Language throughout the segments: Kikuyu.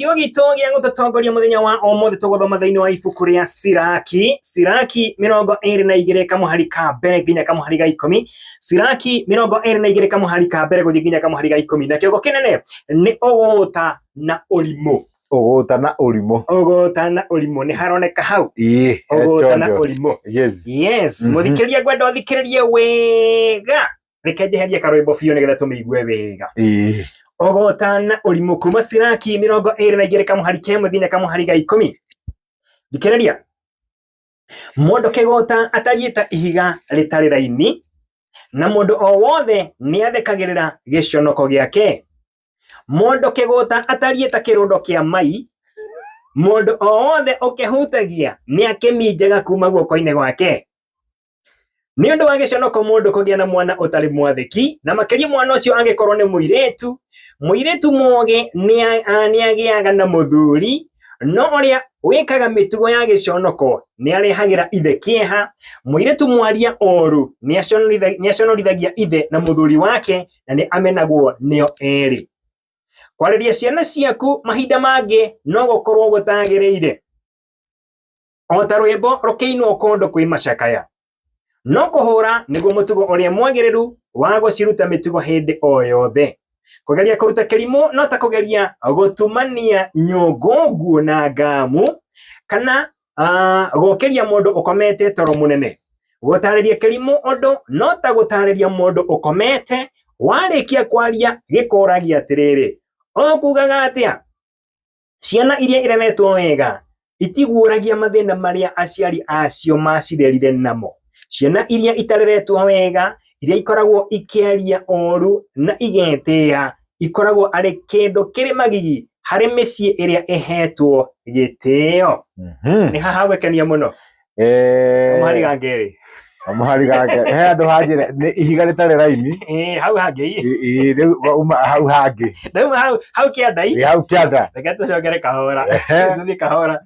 Kĩo gitũ gĩa gũtũtongoria mũthenya wa ũmũthĩ tũgũthoma thĩinĩ wa ibuku rĩa Siraki, Siraki mĩrongo ĩrĩ na igĩrĩ kamũhari ka mbere nginya kamũhari ga ikũmi, Siraki mĩrongo ĩrĩ na igĩrĩ kamũhari ka mbere gũthiĩ nginya kamũhari ga ikũmi, na kĩongo kĩnene nĩ ũgũta na ũrimũ. Ũgũta na ũrimũ. Ũgũta na ũrimũ nĩ haroneka hau, Ĩĩ, he ũgũta na chonjo. ũrimũ. Yes. Yes, Mhm. mũthikĩrĩria ngwenda ũthikĩrĩrie wega reke njeherie karwimbo biũ nĩgetha tũmĩigue wega Ĩĩ. ogotana ũrimũ kuma ciraki mĩrongo ĩrĩ na igĩrĩ kamũhari kemwe nginya kamũhari ga ikũmi thikĩrĩria mũndũ kĩgũta atariĩ ta ihiga rĩtarĩ raini na mũndũ o wothe nĩ athekagĩrĩra gĩconoko gĩake mũndũ kĩgũta atariĩ ta kĩrũndo kĩa mai mũndũ o wothe ũkĩhutagia nĩ akĩminjaga kuma guoko-inĩ gwake nĩ ũndũ wa gĩconoko mũndũ kũgĩa na mwana ũtarĩ mwathĩki na makĩria mwana ũcio angĩkorwo nĩ mũirĩtu mũirĩtu mũgĩ nĩa- a- nĩagĩaga na mũthuri no ũrĩa wĩkaga mĩtugo ya gĩconoko nĩarehagĩra ithe kĩeha mũirĩtu mwaria ũũru nĩaconoritha- nĩaconorithagia ithe na mũthuri wake na nĩ amenagwo nĩo erĩ kwarĩria ciana ciaku mahinda mangĩ no gũkorwo gũtagĩrĩire o ta rwĩmbo rũkĩinwo kũndũ kwĩ macakaya no kũhũra nĩguo mũtugo ũrĩa mwagĩrĩru wa gũciruta mĩtugo hĩndĩ o yothe kũgeria kũruta kĩrimũ no ta kũgeria gũtumania nyũngũ nguo na ngamu kana ah, gũkĩria mũndũ ũkomete toro mũnene gũtarĩria kĩrimũ ũndũ no ta gũtarĩria mũndũ ũkomete warĩkia kwaria gĩkũragia atĩrĩrĩ ũkugaga atĩa Ciana iria ireretwo wega itiguũragia mathĩna marĩa aciari acio macirerire namo. Ciana iria itareretwo wega, iria ikoragwo ikĩaria ũũru na igetĩa, ikoragwo arĩ kĩndũ kĩrĩ magigi harĩ mĩciĩ ĩrĩa ĩhetwo gĩtĩo. Mhm. Nĩ haha gwĩkenia mũno. kamũhari ga kerĩ kamũhari ga kerĩ he andũ hanjĩra nĩ ihiga rĩtarĩ raini eh, hau hangĩ ii rĩu uma hau hangĩ rĩu hau hau kĩanda ii hau kĩanda reke tũcokere kahora tũthiĩ kahora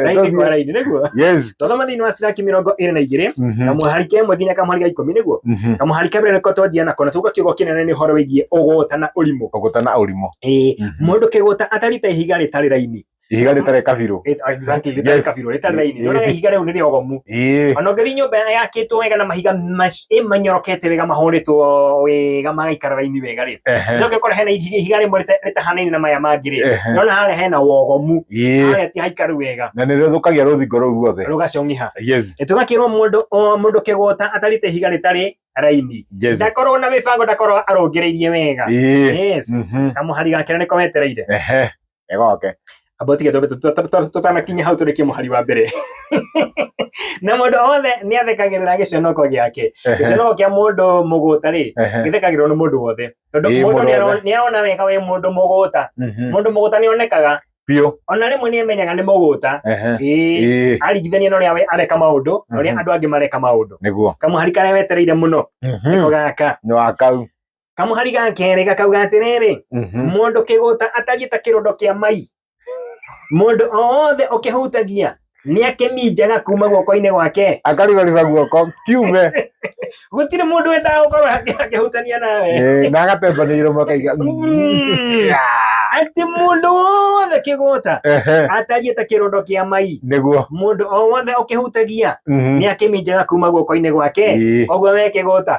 raini kwa raini nĩguo yes tũthoma thĩinĩ wa ciraki mĩrongo ĩrĩ na igĩrĩ mhm. kamũhari ka ĩmwe nginya kamũhari ga ikũmi nĩguo mhm. kamũhari ka mbere nĩko twanjia nako na tuga kiugo kĩnene nĩ ũhoro wĩgiĩ ũgũta na ũrimũ ũgũta na ũrimũ ĩĩ mhm. mũndũ kĩgũta atarite ihiga rĩtarĩ raini ihiga rĩtarĩ kabirũ Rĩta- exactly, rĩtarĩ Yes. kabirũ, rĩtarĩ raini. Ĩ- Nĩũraga ĩ- ihiga rĩu nĩ rĩogomu. ĩĩ Ona ũngĩthiĩ nyũmba yakĩtwo wega na mahiga mac- ĩ manyorokete wega mahũrĩtwo wega magaikara raini wega rĩ ehe njoke kora hena ihiga ihiga rĩmwe rĩta- rĩtahanaine na maya mangĩ rĩ ehe nona harĩa hena wogomu ĩĩ harĩa ti haikaru wega na nĩ rĩthũkagia rũthingo rũu ruothe rũgacong'iha yes tũgakĩrwo mũndũ o mũndũ kĩgũta atarĩte ihiga rĩtarĩ raini yes ndakorwo na mĩbango ndakorwo arũngĩrĩirie wega ĩĩ yes Mhm. kamũhari gake na nĩko wetereire ehe ĩgoke amba tige twambe tũ- tũ- tũ- tũ- tũtanakinya hau tũrĩkie mũhari wa mbere na mũndũ wothe nĩ athekagĩrĩra gĩconoko gĩake gĩconoko kĩa mũndũ mũgũta rĩ Ehe. gĩthekagĩrĩrwo nĩ mũndũ wothe tondũ Ĩĩ, mũndũ mũndũ nĩaro- wothe. nĩarona wega wĩ mũndũ mũgũta Mhm. mũndũ mũgũta nĩ onekaga biũ ona rĩmwe nĩ amenyaga nĩ mũgũta Ehe. ĩĩ Ĩĩ, aringithania na ũrĩa we areka maũndũ na ũrĩa Mhm. andũ angĩ mareka maũndũ nĩguo kamũhari karĩa wetereire mũno nĩko gaka nĩ wa kau kamũhari ga kerĩ gakauga atĩrĩrĩ Mhm. mũndũ kĩgũta atariĩ ta kĩrondo kĩa mai mũndũ o wothe ũkĩhutagia nĩ akĩminjaga kuma guoko-inĩ gwake akarigariga guoko kiume gũtirĩ mũndũ wendaga gũkorwo akĩ- akĩhutania nawe Eh, na agatembanĩirwo makaiga Mm. atĩ mũndũ wothe kĩgũta Ehe, atariĩ ta kĩrondo kĩa mai nĩguo mũndũ o wothe ũkĩhutagia Mhm. nĩ akĩminjaga kuma guoko-inĩ gwake Ĩĩ. ũguo we kĩgũta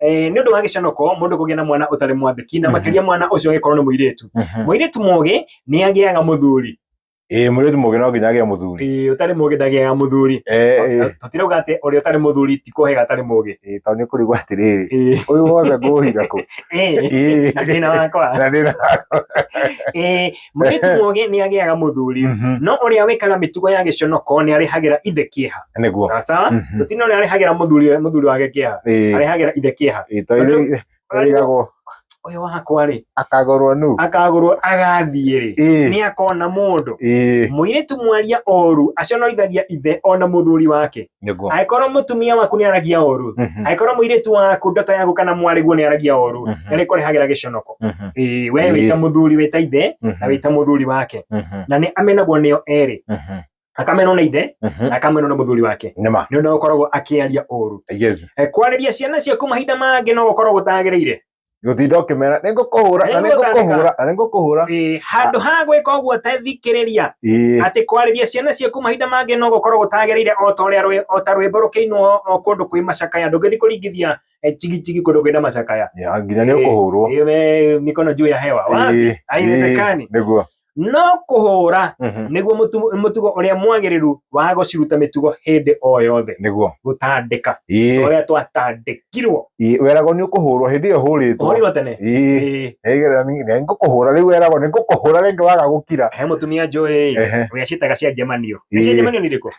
eh, nĩ ũndũ wa gĩcanoko mũndũ kũgĩa na mwana ũtarĩ mwandĩki na Mhm. makĩria mwana ũcio angĩkorwo nĩ mũirĩtu Mhm. mũirĩtu mũgĩ nĩ agĩaga mũthuri Eh, mũirĩtu mũgĩ no nginya agĩa mũthuri Eh, ũtarĩ mũgĩ ndagĩaga mũthuri Eh, eh, tũtirauga atĩ ũrĩa ũtarĩ mũthuri ti kũhega atarĩ mũgĩ eh, tondũ nĩ kũrigwo atĩrĩrĩ Eh, ũyũ wothe ngũũhira kũ eh, Eh, na thĩna wakwa na thĩna Eh, mũirĩtu Ehe. mũũgĩ nĩ agĩaga mũthuri Mhm. no ũrĩa wĩkaga mĩtugo ya gĩconoko nĩ arĩhagĩra ithe kĩeha nĩguo sawa sawa Mhm. gũtirĩ na ũrĩa arĩhagĩra mũthuri mũthuri wake kĩeha Ĩĩ, arĩhagĩra ithe kĩeha ĩĩ, to irĩ- irĩgagwo ũyũ wakwa rĩ akagorwo nu akagũrwo agathiĩ rĩ Ĩĩ, nĩ akona mũndũ ĩĩ, mũirĩtu mwaria oru aconorithagia ithe ona mũthuri wake nĩguo angĩkorwo mũtumia waku nĩ aragia ũru Mhm, angĩkorwo mũirĩtu waku ndoto ya gũka na mwarĩguo nĩ aragia ũru Mhm. na nĩ kũrehagĩra gĩconoko mhm, Ĩĩ, we Ĩĩ. wĩ ta mũthuri wĩ ta ithe na mhm, wĩ ta mũthuri wake mhm, na nĩ amenagwo nĩo erĩ mhm, akamenwo nĩ ithe mhm. na akamenwo nĩ mũthuri wake nĩ ma nĩ ũndũ ũkoragwo akĩaria ũru yes Eh, kwarĩria ciana ciaku mahinda mangĩ no gũkorwo gũtagĩrĩire gutinda ukimera ni ngukuhura na ni ngukuhura na ni ngukuhura eh, handu ha gwika uguo te thikiriria eh. ati kwariria ciana ciaku mahinda mangi no gukorwo gutagirire o ta uria o ta rwimbo rukiinwo o kundu kwi macakaya ndungithi kuringithia chigitigi eh, kundu kwina macakaya nginya ni ukuhurwo mikono juu ya hewa wapi haiwezekani niguo no kũhũũra Mhm. nĩguo mũtu- mũtugo ũrĩa mwagĩrĩru wa gũciruta mĩtugo hĩndĩ o yothe nĩguo gũtandĩka Ĩĩ, ũrĩa twatandĩkirwo ĩĩ, weragwo nĩ ũkũhũrwo hĩndĩ ĩyo hũrĩtwo ũhũrirwo tene Ĩĩ, Ĩĩ. nĩgetha nĩ- nĩ ngũkũhũra rĩu weragwo nĩ ngũkũhũra rĩngĩ waga gũkira he mũtumia njũĩ Ehe. ũrĩa ciĩtaga cia njemanio Ĩĩ. Nĩ cia njemanio nĩ irĩkũ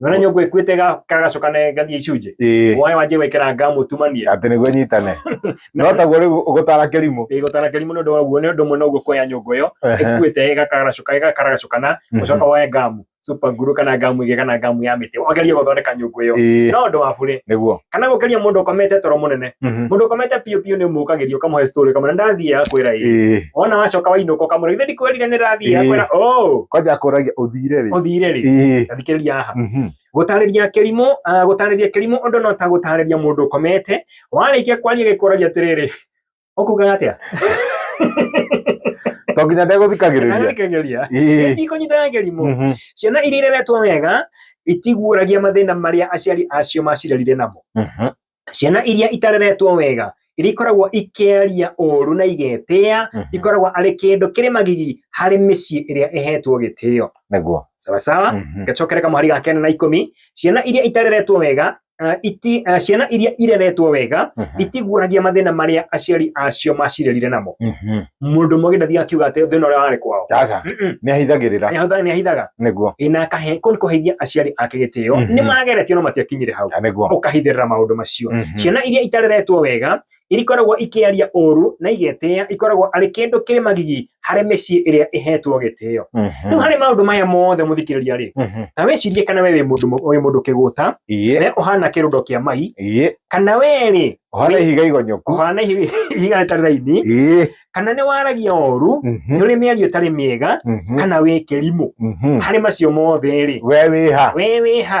Nona nyongo ĩkuĩte ga- kagacoka ne gathiĩ icunjĩ ĩĩ waĩ wanjie gwĩkĩra ngamu tumanie atĩ nĩguo nyitane no taguo rĩu ũgũtara kĩrimũ ĩgũtara kĩrimũ nĩ ũndũ waguo nĩ ũndũ ũmwe noguo kuoya nyũngũ ĩyo Ehe. ĩkuĩte ĩgakaracoka ĩgakaragacoka na Mhm. ũcoka woe ngamu super glue kana ngamu ĩgĩ kana ngamu ya mĩtĩ wageria gũthondeka nyũngũ ĩyo Ĩĩ, no ũndũ wa burĩ nĩguo kana gũkĩria mũndũ ũkomete toro mũnene Mhm. mũndũ ũkomete biũ biũ nĩ ũmũkagĩria ũkamũhe story ũkamwĩra ndathiĩ akwĩra ĩ Ĩĩ. wona wacoka wainũka ũkamwĩra ithe ndikwĩrire nĩ ndathiĩ Ĩĩ. akwĩra oh kwanja akũragia ũthire rĩ ũthire rĩ Ĩĩ. thikĩrĩria haha Mhm. gũtarĩria kĩrimũ ah, gũtarĩria kĩrimũ ũndũ no ta gũtarĩria mũndũ ũkomete warĩkia kwaria gĩkũragia atĩrĩrĩ ũkugaga atĩa to nginya ndegũthikagĩrĩria Ndagũthikagĩrĩria. Ĩĩ. itikũnyitaga kĩrimũ Mhm. ciana iria ireretwo wega itiguũragia mathĩna marĩa aciari acio macirerire namo Mhm. ciana iria itareretwo wega iria ikoragwo ikĩaria ũũru na igetĩa Mhm. ikoragwo arĩ kĩndũ kĩrĩ magigi harĩ mĩciĩ ĩrĩa ĩhetwo gĩtĩo nĩguo sawa sawa Mhm. gacokere kamũhari ga kenda na ikũmi ciana iria itareretwo wega uh, iti, uh, ciana iria ireretwo wega Mhm. itiguũragia mathĩna marĩa aciari acio macirerire namo Mhm. mundu mwe githĩ akiuga atĩ thĩna ũrĩa warĩ kwao aca Mm-mm. nĩ ahithagĩrĩra Nĩahothaga- nĩahithaga nĩguo ĩna akahe kũu nĩ kũheithia aciari ake gĩtĩo Mhm. nĩ mageretio no matiakinyire hau Na nĩguo ũkahithĩrĩra maũndũ macio Mhm. ciana iria itareretwo wega irikoragwo ikĩaria ũru na igetĩa ikoragwo arĩ kĩndũ kĩrĩ magigi harĩ mĩciĩ ĩrĩa ĩhetwo gĩtĩo Mhm. rĩu harĩ maũndũ maya mothe mũthikĩrĩria rĩ Mhm. na wĩcirie kana we wĩ mũndũ wĩ mũndũ kĩgũta iye we ũhana kĩrundo kĩa mai iye kana we rĩ Ũhana ihiga igonyoku. Ũhana ihiga rĩtarĩ raini. Kana nĩ waragia ũru, mhm. nĩ ũrĩ mĩario ĩtarĩ mĩega, mhm. kana wĩ kĩrimũ. Mhm. Harĩ macio mothe rĩ. We wĩha. We wĩha.